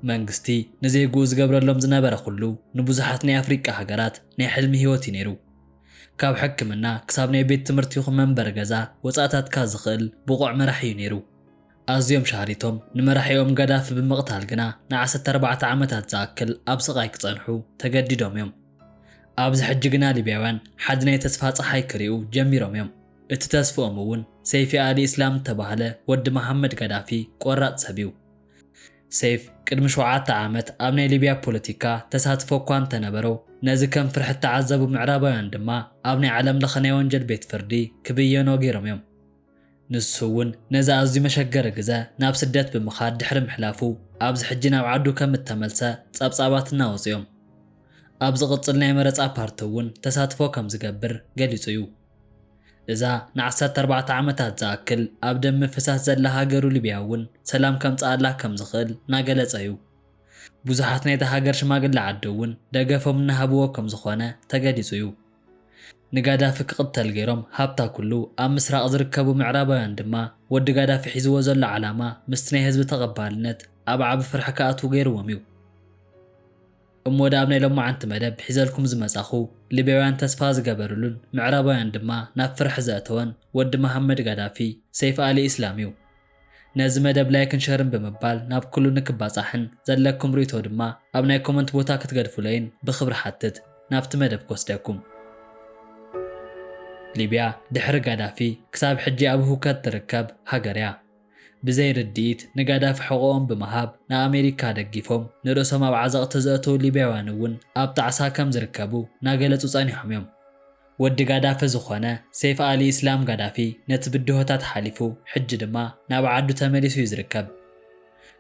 መንግስቲ ንዜግኡ ዝገብረሎም ዝነበረ ኩሉ ንብዙሓት ናይ ኣፍሪቃ ሃገራት ናይ ሕልሚ ህይወት እዩ ነይሩ። ካብ ሕክምና ክሳብ ናይ ቤት ትምህርቲ ይኹን መንበሪ ገዛ ወጻእታትካ ዝኽእል ብቑዕ መራሒ እዩ ነይሩ። ኣዝዮም ሻህሪቶም ንመራሒኦም ጋዳፊ ብምቕታል ግና ንዓሰርተ ኣርባዕተ ዓመታት ዝኣክል ኣብ ስቓይ ክጸንሑ ተገዲዶም እዮም። ኣብዚ ሕጂ ግና ሊብያውያን ሓዲ ናይ ተስፋ ጸሓይ ክሪኡ ጀሚሮም እዮም። እቲ ተስፍኦም እውን ሰይፊ ኣሊ እስላም እተባህለ ወዲ መሓመድ ጋዳፊ ቆራጽ ሰብ እዩ። ሰይፍ ቅድሚ ሸውዓተ ዓመት ኣብ ናይ ሊብያ ፖለቲካ ተሳትፎ እኳ እንተነበሮ ነዚ ከም ፍርሒ እተዓዘቡ ምዕራባውያን ድማ ኣብ ናይ ዓለም ለኸ ናይ ወንጀል ቤት ፍርዲ ክብየኖ ገይሮም እዮም። ንሱ እውን ነዚ ኣዝዩ መሸገሪ ግዘ ናብ ስደት ብምኻድ ድሕሪ ምሕላፉ ኣብዚ ሕጂ ናብ ዓዱ ከም እተመልሰ ፀብፃባት እናወፅኡ'ዮም። ኣብ ዝቕፅል ናይ መረፃ ፓርቲ እውን ተሳትፎ ከም ዝገብር ገሊፁ እዩ። እዛ ንዓሰርተ ኣርባዕተ ዓመታት ዝኣክል ኣብ ደም ምፍሳስ ዘላ ሃገሩ ሊብያ እውን ሰላም ከምፅኣላ ከም ዝኽእል እናገለፀ እዩ። ብዙሓት ናይታ ሃገር ሽማግለ ዓዲ እውን ደገፎም እናሃብዎ ከም ዝኾነ ተገሊፁ እዩ። ንጋዳፊ ክቕተል ገይሮም ሃብታ ኩሉ ኣብ ምስራቕ ዝርከቡ ምዕራባውያን ድማ ወዲ ጋዳፊ ሒዝዎ ዘሎ ዓላማ ምስቲ ናይ ህዝቢ ተቐባልነት ኣብ ዓቢ ፍርሒ ክኣትዉ ገይርዎም እዩ። እሞ ድኣ ኣብ ናይ ሎማዓንቲ መደብ ሒዘልኩም ዝመጻኹ ሊብያውያን ተስፋ ዝገበርሉን ምዕራባውያን ድማ ናብ ፍርሒ ዘእተወን ወዲ መሃመድ ጋዳፊ ሰይፍ ኣሊ ኢስላም እዩ። ነዚ መደብ ላይክን ሸርን ብምባል ናብ ኩሉ ንክባጻሕን ዘለኩም ሪኢቶ ድማ ኣብ ናይ ኮመንት ቦታ ክትገድፉለይን ብክብሪ ሓትት ናብቲ መደብ ክወስደኩም። ሊብያ ድሕሪ ጋዳፊ ክሳብ ሕጂ ኣብ ህውከት ትርከብ ሃገርያ። ብዘይ ርድኢት ንጋዳፊ ሕቆኦም ብምሃብ ንኣሜሪካ ደጊፎም ንርእሶም ኣብ ዓዘቅቲ ዘእተው ሊብያውያን እውን ኣብ ጣዕሳ ከም ዝርከቡ ናገለጹ ጸኒሖም እዮም። ወዲ ጋዳፊ ዝኾነ ሰይፍ ኣሊ ኢስላም ጋዳፊ ነቲ ብድሆታት ሓሊፉ ሕጂ ድማ ናብ ዓዱ ተመሊሱ እዩ ዝርከብ።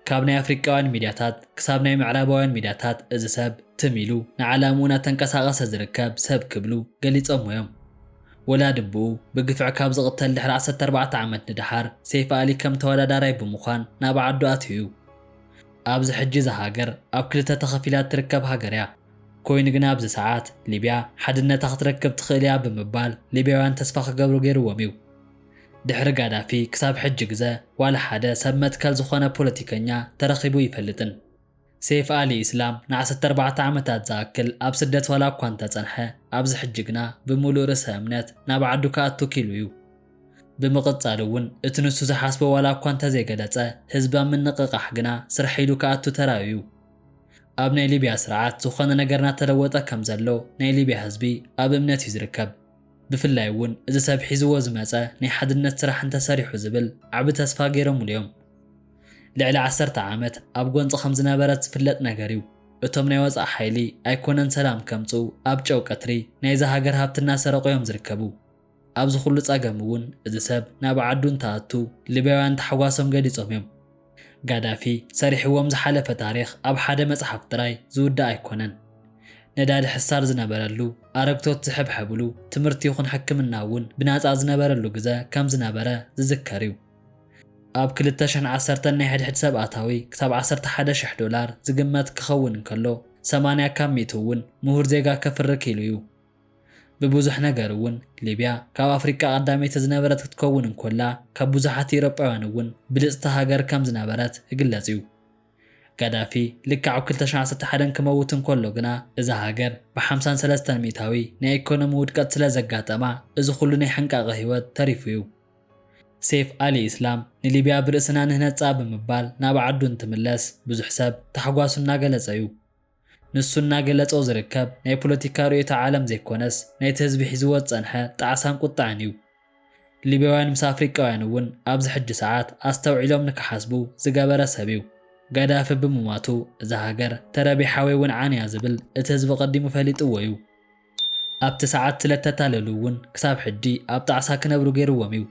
ካብ ናይ ኣፍሪቃውያን ሚድያታት ክሳብ ናይ ምዕራባውያን ሚድያታት እዚ ሰብ ትም ኢሉ ንዓላምኡ እናተንቀሳቐሰ ዝርከብ ሰብ ክብሉ ገሊጾሞ እዮም። ወላዲ ኣቡኡ ብግፍዒ ካብ ዝቕተል ድሕሪ ዓሰርተ ኣርባዕተ ዓመት ንደሓር ሰይፍ ኣሊ ከም ተወዳዳራይ ብምዃን ናብ ዓዱ ኣትዩ እዩ። ኣብዚ ሕጂ እዛ ሃገር ኣብ ክልተ ተኸፊላ እትርከብ ሃገር እያ። ኮይኑ ግና ኣብዚ ሰዓት ሊብያ ሓድነታ ክትረክብ ትኽእል እያ ብምባል ሊብያውያን ተስፋ ክገብሩ ገይርዎም እዩ። ድሕሪ ጋዳፊ ክሳብ ሕጂ ግዘ ዋላ ሓደ ሰብ መትከል ዝኾነ ፖለቲከኛ ተረኺቡ ኣይፈልጥን። ሴይፍ ኣሊ ኢስላም ንዓሰርተ ኣርባዕተ ዓመታት ዝኣክል ኣብ ስደት ዋላ እኳ እንተፀንሐ ኣብዚ ሕጂ ግና ብምሉእ ርእሰ እምነት ናብ ዓዱ ክኣቱ ክኢሉ እዩ። ብምቕፃል እውን እቲ ንሱ ዝሓስቦ ዋላ እኳ እንተዘይገለፀ ህዝቢ ኣብ ምንቕቓሕ ግና ስርሐይ ኢሉ ክኣቱ ተራእዩ እዩ። ኣብ ናይ ሊብያ ስርዓት ዝኾነ ነገር ናተለወጠ ከም ዘሎ ናይ ሊብያ ህዝቢ ኣብ እምነት እዩ ዝርከብ። ብፍላይ እውን እዚ ሰብ ሒዝዎ ዝመጸ ናይ ሓድነት ስራሕ እንተሰሪሑ ዝብል ዓቢ ተስፋ ገይሮምሉ እዮም። ልዕሊ ዓሰርተ ዓመት ኣብ ጎንጺ ከም ዝነበረት ዝፍለጥ ነገር እዩ። እቶም ናይ ወጻኢ ሓይሊ ኣይኮነን ሰላም ከምጽኡ ኣብ ጨው ቀትሪ ናይዛ ሃገር ሃብቲ እናሰረቑ እዮም ዝርከቡ። ኣብዚ ኩሉ ጸገም እውን እዚ ሰብ ናብ ዓዱ እንትኣቱ ሊብያውያን ታሕጓሶም ገሊጾም እዮም። ጋዳፊ ሰሪሕዎም ዝሓለፈ ታሪኽ ኣብ ሓደ መጽሓፍ ጥራይ ዝውዳእ ኣይኮነን። ነዳዲ ሕሳር ዝነበረሉ፣ ኣረግቶት ዝሕብሐብሉ፣ ትምህርቲ ይኹን ሕክምና እውን ብናጻ ዝነበረሉ ግዘ ከም ዝነበረ ዝዝከር እዩ። ኣብ ክልተ ሽሕን ዓሰርተን ናይ ሕድሕድ ሰብ ኣታዊ ክሳብ ዓሰርተ ሓደ ሽሕ ዶላር ዝግመት ክኸውን እንከሎ፣ ሰማንያ ካብ ሚእቱ እውን ምሁር ዜጋ ከፍሪ ክኢሉ እዩ። ብብዙሕ ነገር እውን ሊብያ ካብ ኣፍሪቃ ቀዳመይቲ ዝነበረት ክትከውን እንኮላ ካብ ብዙሓት ኢሮጳውያን እውን ብልጽቲ ሃገር ከም ዝነበረት እግለጽ እዩ። ጋዳፊ ልክዕ ኣብ ክልተ ሽሕን ዓሰርተ ሓደን ክመውት እንኮሎ ግና እዛ ሃገር ብሓምሳን ሰለስተን ሚእታዊ ናይ ኤኮኖሚ ውድቀት ስለ ዘጋጠማ እዚ ኩሉ ናይ ሕንቃቐ ህይወት ተሪፉ እዩ። ሴፍ ኣሊ ኢስላም ንሊብያ ብርእስና ንህነጻ ብምባል ናብ ዓዱ እንትምለስ ብዙሕ ሰብ ታሕጓሱ እናገለጸ እዩ። ንሱ እናገለጾ ዝርከብ ናይ ፖለቲካ ርእዮተ ዓለም ዘይኮነስ ናይቲ ህዝቢ ሒዝዎ ዝጸንሐ ጣዕሳን ቁጠዐን እዩ። ሊብያውያን ምስ ኣፍሪቃውያን እውን ኣብዚ ሕጂ ሰዓት ኣስተውዒሎም ንክሓስቡ ዝገበረ ሰብ እዩ። ጋዳፊ ብምሟቱ እዛ ሃገር ተረቢሓ ወይ እውን ዓንያ ዝብል እቲ ህዝቢ ቀዲሙ ፈሊጥዎ እዩ። ኣብቲ ሰዓት ስለ እተታለሉ እውን ክሳብ ሕጂ ኣብ ጣዕሳ ክነብሩ ገይርዎም እዩ።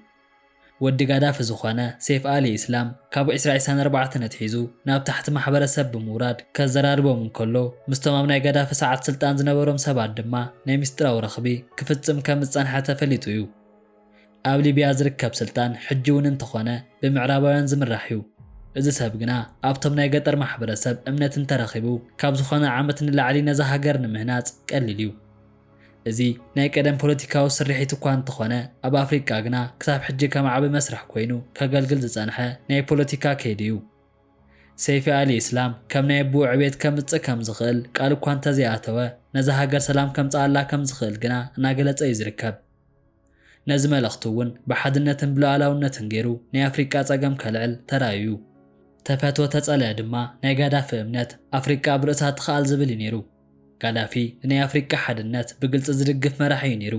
ወዲ ጋዳፊ ዝኾነ ሴፍ ኣሊ ኢስላም ካብ ዕስራ ዒስራን ኣርባዕተን ኣትሒዙ ናብ ታሕቲ ማሕበረሰብ ብምውራድ ከዘራርቦም እንከሎ ምስቶም ኣብ ናይ ጋዳፊ ሰዓት ስልጣን ዝነበሮም ሰባት ድማ ናይ ምስጢራዊ ረኽቢ ክፍጽም ከም ዝጸንሐ ተፈሊጡ እዩ። ኣብ ሊብያ ዝርከብ ስልጣን ሕጂ እውን እንተኾነ ብምዕራባውያን ዝምራሕ እዩ። እዚ ሰብ ግና ኣብቶም ናይ ገጠር ማሕበረሰብ እምነት እንተረኺቡ ካብ ዝኾነ ዓመት ንላዕሊ ነዛ ሃገር ንምህናጽ ቀሊል እዩ። እዚ ናይ ቀደም ፖለቲካዊ ስርሒት እኳ እንተኾነ፣ ኣብ ኣፍሪቃ ግና ክሳብ ሕጂ ከም ዓቢ መስርሕ ኮይኑ ከገልግል ዝጸንሐ ናይ ፖለቲካ ከይዲ እዩ። ሰይፊ ኣሊ ኢስላም ከም ናይ ኣቡኡ ዕብየት ከምጽእ ከም ዝኽእል ቃል እኳ እንተዘይኣተወ፣ ነዛ ሃገር ሰላም ከምጽኣላ ከም ዝኽእል ግና እናገለጸ እዩ ዝርከብ። ነዚ መልእኽቱ እውን ብሓድነትን ብሉኣላውነትን ገይሩ ናይ ኣፍሪቃ ጸገም ከልዕል ተራእዩ እዩ። ተፈትወ ተጸልአ ድማ ናይ ጋዳፊ እምነት ኣፍሪቃ ኣብ ርእሳ ትኽኣል ዝብል እዩ ነይሩ። ጋዳፊ ንናይ ኣፍሪቃ ሓድነት ብግልጺ ዝድግፍ መራሒ እዩ ነይሩ።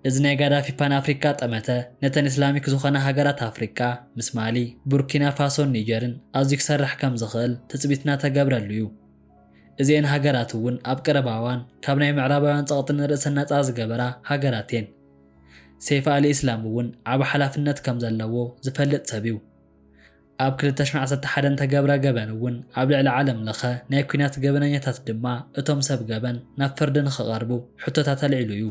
እዚ ናይ ጋዳፊ ፓን ኣፍሪቃ ጠመተ ነተን ኢስላሚክ ዝኾና ሃገራት ኣፍሪቃ ምስ ማሊ፣ ቡርኪና ፋሶን ኒጀርን ኣዝዩ ክሰርሕ ከም ዝኽእል ትጽቢት እናተገብረሉ እዩ። እዚኤን ሃገራት እውን ኣብ ቀረባ እዋን ካብ ናይ ምዕራባውያን ጸቕጢ ንርእሰን ናጻ ዝገበራ ሃገራት እየን። ሰይፍ ኣል-ኢስላም እውን ዓቢ ሓላፍነት ከም ዘለዎ ዝፈልጥ ሰብ እዩ። ኣብ ክልተ ሽሕን ዓሰርተ ሓደን ተገብረ ገበን እውን ኣብ ልዕሊ ዓለም ለኸ ናይ ኲናት ገበነኛታት ድማ እቶም ሰብ ገበን ናብ ፍርዲ ንኽቐርቡ ሕቶታት ኣልዒሉ እዩ።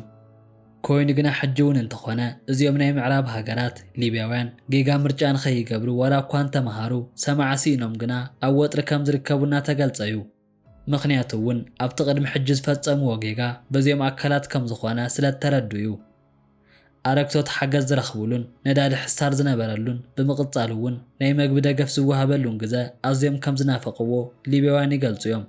ኮይኑ ግና ሕጂ ውን እንተኾነ እዚኦም ናይ ምዕራብ ሃገራት፣ ሊብያውያን፣ ጌጋ ምርጫ ንኸይገብሩ ዋላ እኳ እንተመሃሩ፣ ሰማዒ ሲኢኖም ግና ኣብ ወጥሪ ከም ዝርከቡ እናተገልጸ ዩ። ምኽንያቱ ውን ኣብቲ ቅድሚ ሕጂ ዝፈጸምዎ ጌጋ በዚኦም ኣካላት ከም ዝኾነ ስለ እተረድኡ ዩ። ኣረግቶት ሓገዝ ዝረኽብሉን ነዳዲ ሕሳር ዝነበረሉን ብምቕጻሉ ውን ናይ መግቢ ደገፍ ዝወሃበሉን ግዘ ኣዝዮም ከም ዝናፈቕዎ ሊብያውያን ይገልጹ ዮም።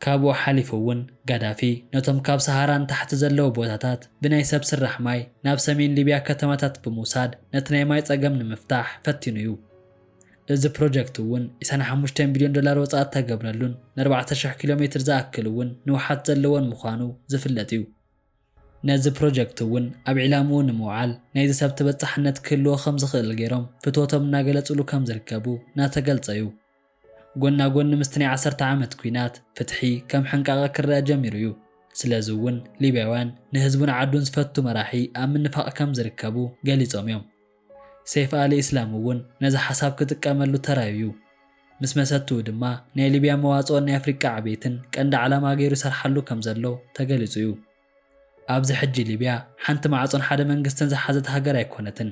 ካብኡ ሓሊፉ እውን ጋዳፊ ነቶም ካብ ሰሃራ ንታሕቲ ዘለዉ ቦታታት ብናይ ሰብ ስራሕ ማይ ናብ ሰሜን ሊብያ ከተማታት ብምውሳድ ነቲ ናይ ማይ ጸገም ንምፍታሕ ፈቲኑ እዩ። እዚ ፕሮጀክት እውን ዒስራን ሓሙሽተን ቢልዮን ዶላር ወጻኢ እተገብረሉን ንኣርባዕተ ሽሕ ኪሎ ሜትር ዝኣክል እውን ንውሓት ዘለዎን ምዃኑ ዝፍለጥ እዩ። ነዚ ፕሮጀክት እውን ኣብ ዒላምኡ ንምውዓል ናይዚ ሰብ ተበጻሕነት ክህልዎ ከም ዝኽእል ገይሮም ፍትወቶም እናገለጹሉ ከም ዝርከቡ እናተገልጸ እዩ። ጎና ጎኒ ምስቲ ናይ ዓሰርተ ዓመት ኲናት፣ ፍትሒ ከም ሕንቃቐ ክረኣ ጀሚሩ እዩ። ስለዚ እውን ሊብያውያን ንህዝቡን ዓዱን ዝፈቱ መራሒ ኣብ ምንፋቕ ከም ዝርከቡ ገሊጾም እዮም። ሰይፍ ኣል-ኢስላም እውን ነዚ ሓሳብ ክጥቀመሉ ተራዩ እዩ። ምስ መሰትኡ ድማ ናይ ሊብያ መዋጽኦን ናይ ኣፍሪቃ ዕቤትን ቀንዲ ዓላማ ገይሩ ይሰርሓሉ ከም ዘሎ ተገሊጹ እዩ። ኣብዚ ሕጂ ሊብያ ሓንቲ ማዕጾን ሓደ መንግስትን ዝሓዘት ሃገር ኣይኮነትን።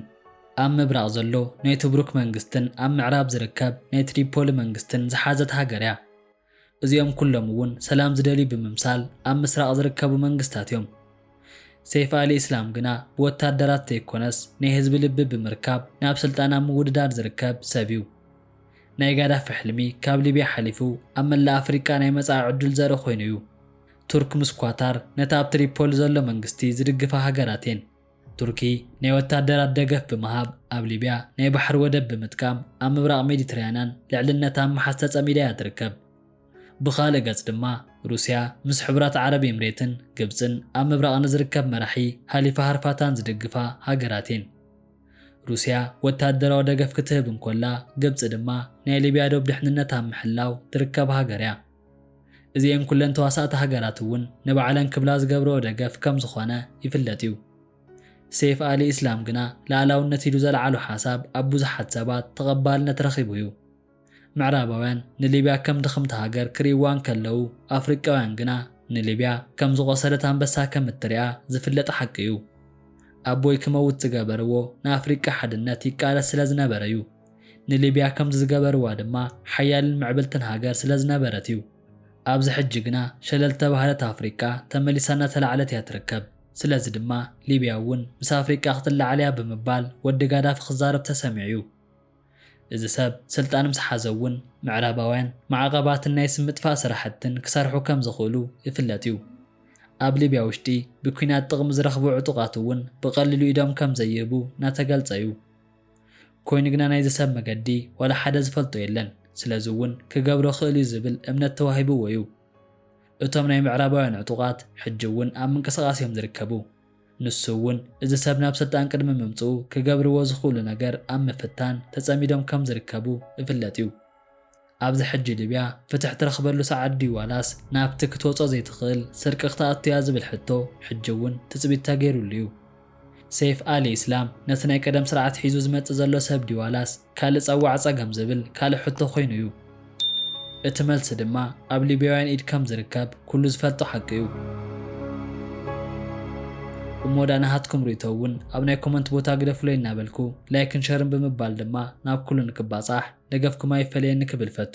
ኣብ ምብራቕ ዘሎ ናይ ቱብሩክ መንግስትን ኣብ ምዕራብ ዝርከብ ናይ ትሪፖሊ መንግስትን ዝሓዘት ሃገር'ያ። እዚኦም ኩሎም'ውን ሰላም ዝደልዩ ብምምሳል ኣብ ምስራቕ ዝርከቡ መንግስታት'ዮም። ሰይፍ ኣል-ኢስላም ግና ብወታደራት ዘይኮነስ ናይ ህዝቢ ልቢ ብምርካብ ናብ ስልጣን ኣብ ምውድዳር ዝርከብ ሰብ'ዩ። ናይ ጋዳፊ ሕልሚ ካብ ሊብያ ሓሊፉ ኣብ መላእ ኣፍሪቃ ናይ መጻኢ ዕድል ዘርኢ ኮይኑ'ዩ። ቱርክ ምስ ኳታር ነቲ ኣብ ትሪፖሊ ዘሎ መንግስቲ ዝድግፋ ሃገራት እየን። ቱርኪ ናይ ወታደራት ደገፍ ብምሃብ ኣብ ሊብያ ናይ ባሕሪ ወደብ ብምጥቃም ኣብ ምብራቕ ሜዲትራያናን ልዕልነታ ኣብ ምሓዝ ተጸሚዳ እያ ትርከብ። ብኻልእ ገጽ ድማ ሩስያ ምስ ሕቡራት ዓረብ ኤምሬትን ግብጽን ኣብ ምብራቕ ንዝርከብ መራሒ ሃሊፋ ሃርፋታን ዝድግፋ ሃገራት እየን። ሩስያ ወታደራዊ ደገፍ ክትህብ እንኮላ ግብጺ ድማ ናይ ሊብያ ዶብ ድሕንነት ኣብ ምሕላው ትርከብ ሃገር እያ። እዚኤን ኩለን ተዋሳእቲ ሃገራት እውን ንባዕለን ክብላ ዝገብረኦ ደገፍ ከም ዝኾነ ይፍለጥ እዩ። ሴፍ ኣሊ ኢስላም ግና ልኣላውነት ኢሉ ዘልዓሎ ሓሳብ ኣብ ብዙሓት ሰባት ተቐባልነት ረኺቡ እዩ። ምዕራባውያን ንሊብያ ከም ድኽምቲ ሃገር ክርእይዋ እንከለዉ ኣፍሪቃውያን ግና ንሊብያ ከም ዝቖሰለት ኣንበሳ ከም እትሪኣ ዝፍለጥ ሓቂ እዩ። ኣቦይ ክመውት ዝገበርዎ ንኣፍሪቃ ሓድነት ይቃለስ ስለ ዝነበረ እዩ። ንሊብያ ከምዚ ዝገበርዋ ድማ ሓያልን ምዕብልትን ሃገር ስለ ዝነበረት እዩ። ኣብዚ ሕጂ ግና ሸለል ዝተባህለት ኣፍሪቃ ተመሊሳ እናተላዕለት እያ ትርከብ። ስለዚ ድማ ሊብያ እውን ምስ ኣፍሪቃ ክትለዓል እያ ብምባል ወዲ ጋዳፊ ክዛረብ ተሰሚዑ እዩ። እዚ ሰብ ስልጣን ምስ ሓዘ እውን ምዕራባውያን ማዕቐባትን ናይ ስም ምጥፋእ ስራሕትን ክሰርሑ ከም ዝኽእሉ ይፍለጥ እዩ። ኣብ ሊብያ ውሽጢ ብኲናት ጥቕሚ ዝረኽቡ ዕጡቓት እውን ብቐሊሉ ኢዶም ከም ዘይህቡ እናተገልጸ እዩ። ኮይኑ ግና ናይዚ ሰብ መገዲ ዋላ ሓደ ዝፈልጦ የለን፣ ስለዚ እውን ክገብሮ እኽእል እዩ ዝብል እምነት ተዋሂብዎ እዩ። እቶም ናይ ምዕራባውያን ዕጡቓት ሕጂ እውን ኣብ ምንቅስቓስ እዮም ዝርከቡ። ንሱ እውን እዚ ሰብ ናብ ስልጣን ቅድሚ ምምፅኡ ክገብርዎ ዝኽእሉ ነገር ኣብ ምፍታን ተፀሚዶም ከም ዝርከቡ እፍለጥ እዩ። ኣብዚ ሕጂ ሊብያ ፍትሕ ትረኽበሉ ሰዓት ድዩ ዋላስ ናብቲ ክትወጾ ዘይትኽእል ስርቂ ክትኣቱ'ያ ዝብል ሕቶ ሕጂ'ውን ትጽቢት ተገይሩሉ'ዩ። ሰይፍ ኣሊ ኢስላም ነቲ ናይ ቀደም ስርዓት ሒዙ ዝመጽእ ዘሎ ሰብ ድዩ ዋላስ ካልእ ጸዋዕ ጸገም ዝብል ካልእ ሕቶ ኮይኑ'ዩ። እቲ መልሲ ድማ ኣብ ሊብያውያን ኢድ ከም ዝርከብ ኩሉ ዝፈልጦ ሓቂ'ዩ። እሞ ደኣ ናሃትኩም ርእይቶ እውን ኣብ ናይ ኮመንት ቦታ ግደፉለይ እናበልኩ ላይክን ሸርን ብምባል ድማ ናብ ኩሉ ንክባጻሕ ደገፍኩም ኣይፈለየኒ ክብል ፈቱ።